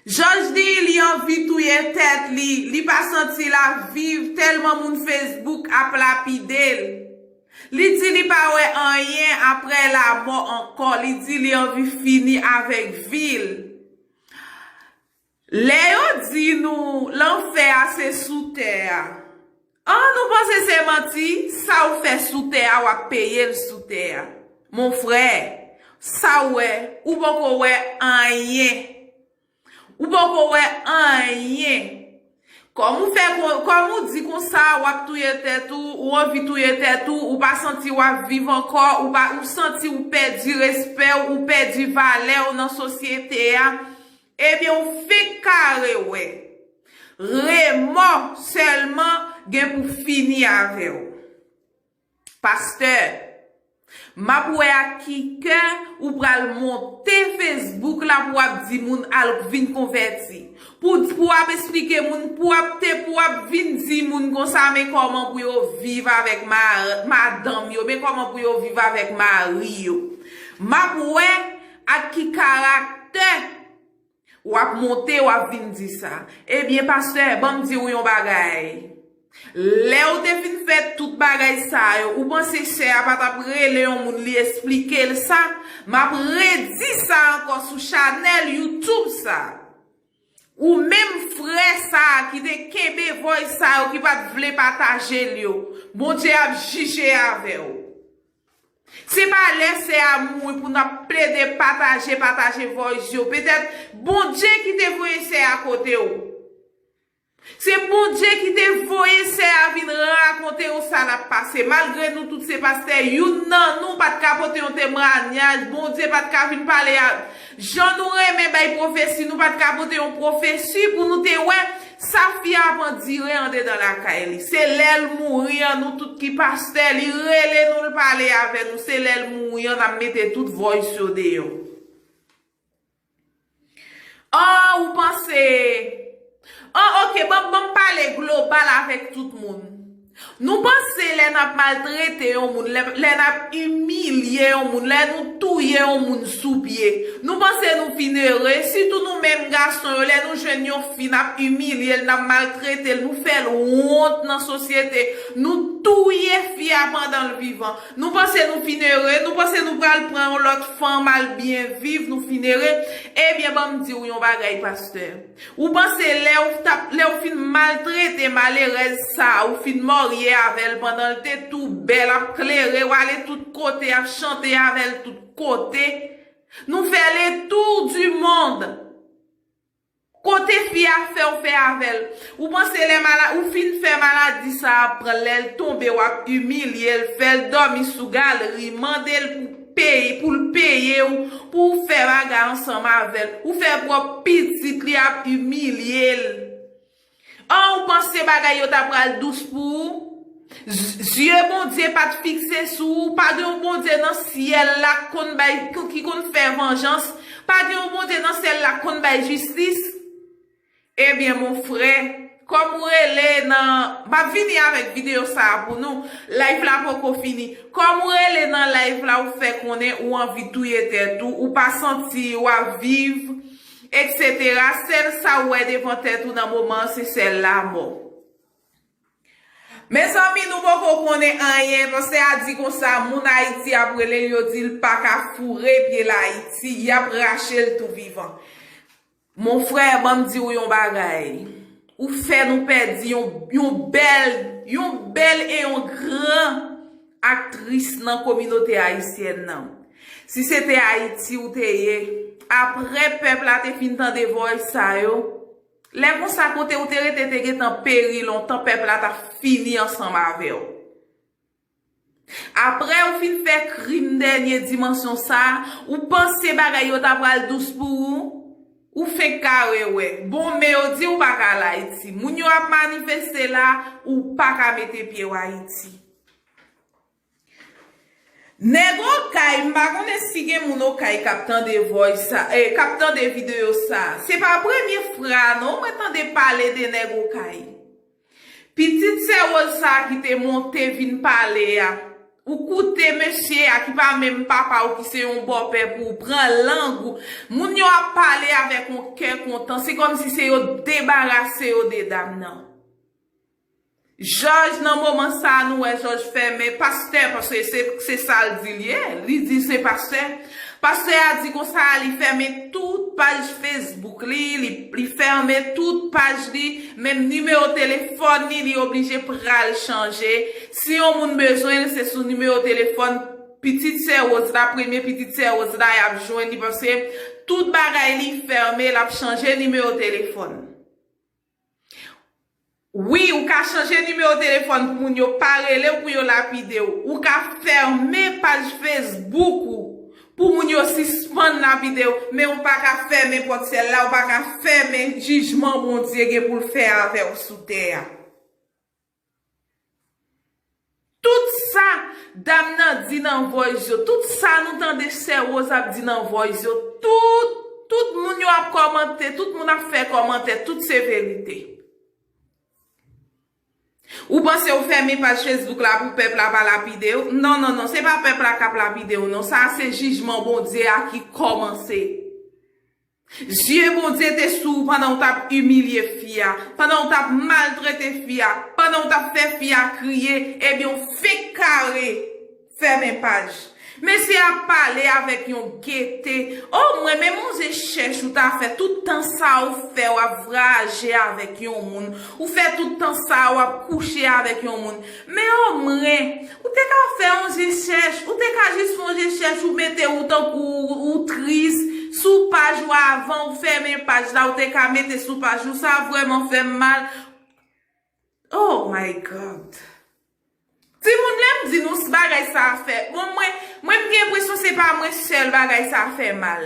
Joj di li anvi touye tèt li, li pa santi l ap viv tèlman moun Facebook ap lapide l. Li di li pa wè anyen aprè lamò ankò, li di li anvi fini avèk vi l. Lè yo di nou lanfè a se sou tè a. An nou panse se manti, sa ou fè sou tè a wap peye l sou tè a. Mon frè, sa ou wè, ou poko wè anyen. Ou poko wè anyen. Kòm ou fè kon, kòm ou di konsa wap touye tèt ou, ou anvi touye tèt ou, ou pa santi wap viv ankò, ou pa, ou santi ou pèdi respè w, ou pèdi valè w nan sosyete a. Ebyen ou fenk kare wè. Remò sèlman gen pou fini avèw. Pastè. Map wè ak ki kè ou pral monte Facebook la pou wap di moun al vin konvèti. Pou pou wap esplike moun pou wap te pou wap vin di moun konsa men kòman pou yo viv avèk madanm yo men kòman pou yo viv avèk mari yo. Map wè. Ak ki karaktè wap monte wap vin di sa. Ebyen pastè banm di ou yon bagay. Lè ou te fin fè tout bagay sa yo ou panse sè a pa tap rele yon moun li esplike l sa? Map redi sa ankò sou chanèl YouTube sa. Ou menm frè sa ki te kenbe voice sa yo ki pat vle pataje l yo. Bondye ap jije avè w. Se pa lè sè a mouri pou n ap plede pataje pataje voice yo. Petèt Bondye ki te voye sè a kote w. Se Bondye ki te voye sè a vin rakonte w sa l ap pase. Malgre nou tout se pastè, youn nan nou pa t ka pote yon temwanyaj, Bondye pa t ka vin pale ak. Jan nou renmen bay pwofesi nou pat ka pote yon pwofesi pou nou te wè sa fi a ap andire andedan lakay li se lèl mouri an nou tout ki pastè li rele nou l pale avè nou se lèl mouri an nap mete tout voice yo deyò. Aww ou panse. Oh ok banm banm pale global avèk tout moun Nou panse lè nap maltrete yon moun lè nap imilye yon moun lè nou touye yon moun sou pye Nou panse nou fin ere sitou nou menm gason yo lè nou jwenn yon fi nap imilyel nap maltretel nou fèl wont nan sosyete nou touye fi a pandanl vivan Nou panse nou fin ere nou panse nou pral pran yon lòt fanm al byen viv nou fin ere ebyen banm diw yon bagay pastè. Ou panse lè ou tap lè ou fin maltrete malerèz sa ou fin marye avèl pandanl te tou bèl ap klere wale tout kote ap chante avèl tout kote nou fè le tour du monde kote fi a fèw fè avèl ou panse lè mala ou fin fè maladi sa pranl lèl tonbe wap imilyel fèl dòmi sou galri mandel pou peye poul peyew pou ou fè bagay ansanm avèl ou fè pròp pitit li ap imilyel an ou panse bagay yo ta pral dous pou ou zye Bondye pat fikse sou ou pa gen yon Bondye nan syèl la ki konn bay ki konn fè vanjans pa gen yon Bondye nan syèl la ki konn bay jistis. Ebyen mon frè Kom ou rele nan Map vini avek video sa a pou nou Live la poko fini Kom ou rele nan live la ou fè konnen ou anvi touye tèt ou ou pa santi wap viv etc sèl sa ou wè devan tèt ou nan moman an se sèl lamò Mezanmi nou poko konnen anyen Pase a di konsa moun Ayiti ap relel yo dil paka foure pyel Ayiti yap rachel tou vivan. Mon frère banm di ou yon bagay ou fè nou pèdi yon yon bèl yon bèl e yon gran aktris nan kominote ayisyèn nan si se te ayiti ou te ye aprè pèp la te fin tande voice sa yo lè konsa kote ou te rete te gentan peri lontan pèp la ta fini ansanm avèw. Aprè ou fin fè krim dènye dimansyon sa, ou panse bagay yo ta pral dous pou ou? Ou fenk kare wè. Bon, men yo di ou pa ka al Ayiti. Moun yo ap manifeste la, ou pa ka mete pye w Ayiti. Nèg Okay, m pa konnen si gen moun Okay k ap tande voice sa, eh, k ap tande video sa. Se pa premye fra non mwen tande pale de nèg Okay. Pitit sè Rose sa ki te monte vin pale a ou koute mesye a ki pa menm papa ou ki se yon bòpè pou ou pran lang ou moun yo ap pale avèk on kè kontan se kòmsi se yo t debarase yo de dam nan jòj nan moman sa nou wè jòj fèmen pastè paske se sal di l ye li di l se pastè. Pastè a di konsa li fèmen tout paj Facebook li, li fèmen tout paj li, menm nimewo telefòn li, li oblije pral chanje. Si yon moun bezwen l, se sou nimewo telefòn pitit sè Woz la, premye pitit sè Woz la y ap jwenn li paske tout bagay li fèmen, l ap chanje nimewo telefòn. Wi ou ka chanje nimewo telefòn pou moun yo pa relew pou yo lapidew ou ka fèmen paj Facebook ou pou moun yo sispann lapidew men ou paka fèmen pòt syèl la ou paka fèmen jijman Bondye gen poul fè avèw sou tè a. Tout sa dam nan di nan voice yo, tout sa nou tande sè Rose ap di nan voice yo, tout, tout moun yo ap kòmante, tout moun ap fè kòmantè, tout se verite. Ou panse ou fèmen paj Facebook la pou pèp la pa lapide ou? Non, non, non, se pa pèp la kap lapide ou non, sa a se jijman Bondye a ki kòmanse. Zye Bondye te sou ou pandan ou t ap imilye fi a, pandan ou t ap maltrete fi a, pandan ou t ap fè fi a kriye, ebyen ou fenk kare fèmen paj. Mesye a pale avèk yon gete, O mwen men manzè chèch ou ta fè tout tan sa a ou fè w ap vraje avèk yon moun, ou fè tout tan sa a w ap kouche avèk yon moun. Men omwen, ou te ka fè yon je chèch, ou te ka jis fè yon je chèch ou mete ou tankou ou tris sou paj ou avan ou fèmen paj la ou te ka mete sou paj ou sa vrèman fèm mal oh my God timoun lèm di nou s bagay sa fè bon mwen mwen m gen enpresyon se pa mwen sèl bagay sa fè mal.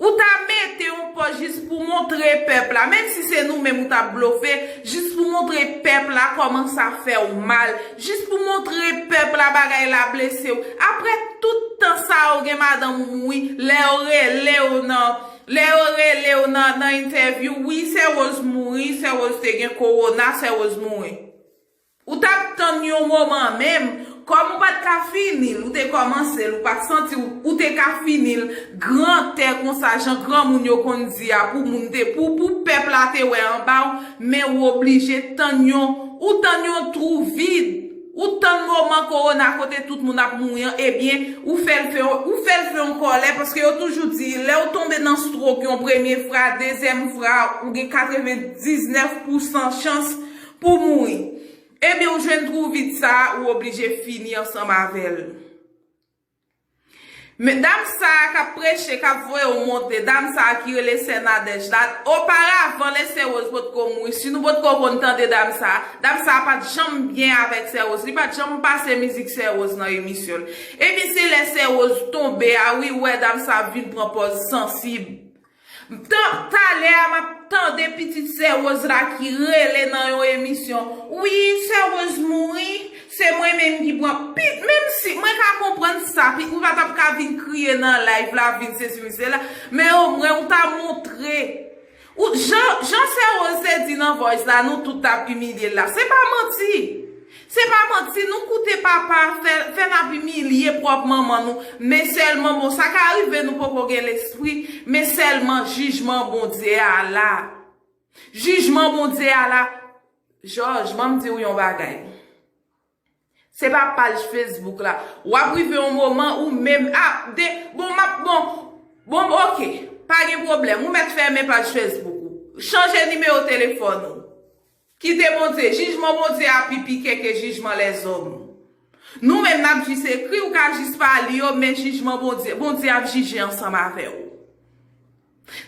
Ou ta mete yon pòz jis pou montre pèp la, menm si se nou menm ou tap blofe, jis pou montre pèp la kòman sa fèw mal, jis pou montre pèp la bagay la blesew, aprè tout tan sa ou gen madanm ou mouri, lè yo relew nan, lè yo relew nan nan entèvyou, wi sè Rose mouri, sè Rose te gen kowona, sè Rose mouri. Ou tap tann yon moman menm, kòm ou pat ka finil, ou te kòmansel, ou pat santiw, ou te ka finil, gran tè konsa jan granmoun yo konn di a pou moun te pou pou pèp la te wè anbaw, men ou oblije tann yon, ou tann yon twou vid, ou tann moman kowona kote tout moun ap mouri an ebyen ou fèl fè yon, ou fèl fè yon kòlè paske yo toujou di lèw tonbe nan strok yon premye fra, dezyèm fra ou gen 99 pousan chans Pou mouri. Ebyen ou jwenn twou vid sa a ou oblije fini ansanm avè l. Men dam sa a k ap preche, k ap voye w monte, dam sa a ki rele sè Nadège la, oparavan lè sè Woz potko mouri, si nou potko konn tande dam sa a, dam sa a pa t janm byen avèk sè Woz, li pa t janm pase mizik sè Woz nan emisyon l. Ebyen se lè sè Woz tonbe a wi ou wè dam sa a vin pran pòz sansib. Bntan talè a map tande pitit sè Rose la ki rele nan yon emisyon wi sè Rose mouri se mwen menm ki pran pi menm si mwen ka konprann sa pi ou pa tap ka vin kriye nan live la vin sesi vin sela men o mwen ou ta montre ou jan jan sè Rose te di nan voice la nou tout tap imilye l la se pa manti Se pa manti nou koute papa fè fè nap imilye pròp manman nou men sèlman bon sa ka rive nou poko gen lespri men sèlman jijman Bondye a la jijman Bondye a la Jòj banm diw yon bagay se pa paj Facebook la wap rive yon moman ou menm ah de bon map bon bon ok pa gen pwoblèm ou mèt fèmen paj Facebook ou chanje nimewo telefòn ou. Kite Bondye. Jijman Bondye a pi pike ke jijman lèzòm. Nou menm nap jis ekri, ou ka jis pa li yo, men jijman Bondye, Bondye ap jije ansanm avè ou.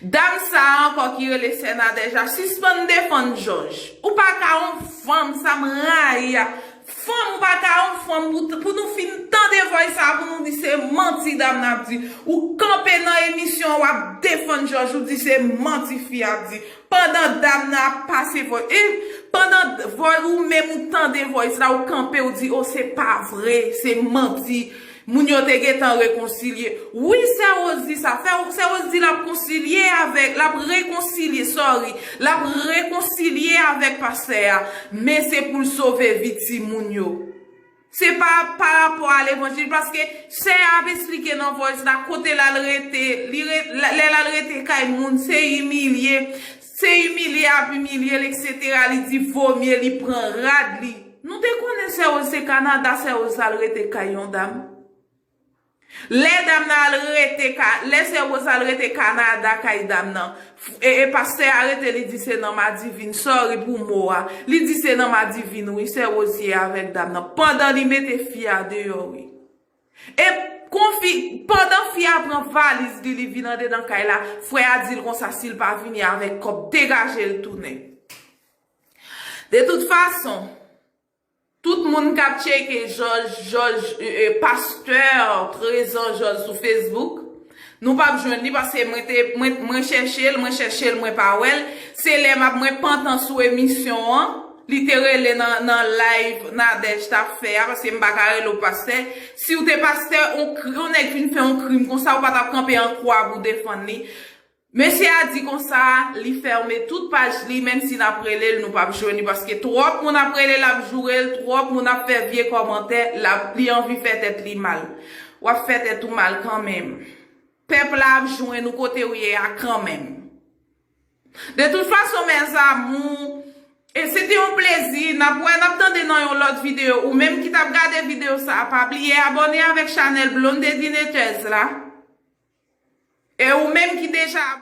Dam sa a ankò ki rele sè Nadège la, sispann defann jòj. Ou pa ka yon fanm, sa m rayi a. Fanm, ou pa ka yon fanm pou nou fin tande vòys sa a pou nou di se manti dam nan ap di. Ou kanpe nan emisyon an wap defann jòj, ou di se manti fi a ap di. Pandan dam nan ap pase voice eh pandan voice ou menm ou tande voice la ou kanpe ou di oh se pa vre se manti moun yo te gentan rekonsilye wi sè rose di sa fè sè rose di lap konsilye avèk lap rekonsilye sorry lap rekonsilye avèk pastè a men se poul sove vi timoun yo. Se pa pa rapò a levanjil paske sè a ap esplike nan voice la kote l al rete li lè l al rete kay moun se imilye se imilye y ap imilye l etc li di vomye li pran rad li. Nou te konnen sè Rose se Canada sè Rose al rete kay yon dam. Lè dam nan al rete ka, lè sè Rose al rete Canada kay dam nan, e pastè a rete li di se nan madivin, sorry pou mo a, li di se nan madivin wi sè Rose ye avèk dam nan, pandan li mete fi a deyò wi. E kon fi, pandan fi a pran valiz li li vin andedan kay la, frè a di l konsa si l pa vini avèk kòb degaje l tounen. De tout fason. Tout moun kap tcheke jòj jòj ee pastè trezan jòj sou Facebook nou pap jwenn li paske mwen te mwen chèchel mwen chèchel mwen pa wèl se lè map mwen pantan sou emisyon an li te rele nan nan live Nadège tap fè a paske m paka rele w pastè siw te pastè on nèg fin fè on krim konsa ou patap kanpe an kwa pou defann li Mesye a di konsa li fèmen tout paj li menm si nap rele l nou pap jwenn li paske twòp moun ap rele l ap joure l twòp moun ap fè vye kòmantè lap li anvi fè tèt li mal wap fè tèt ou mal kanmenm pèp la ap jwenn ou kotew ye a kanmenm de tout fason mes amour E se te yon plezi, nap wè nap tande nan yon lòt video, ou menm ki tap gade video sa a pa bliye abòne avèk chanèl Blondedine Thez la, e ou menm ki deja abòne.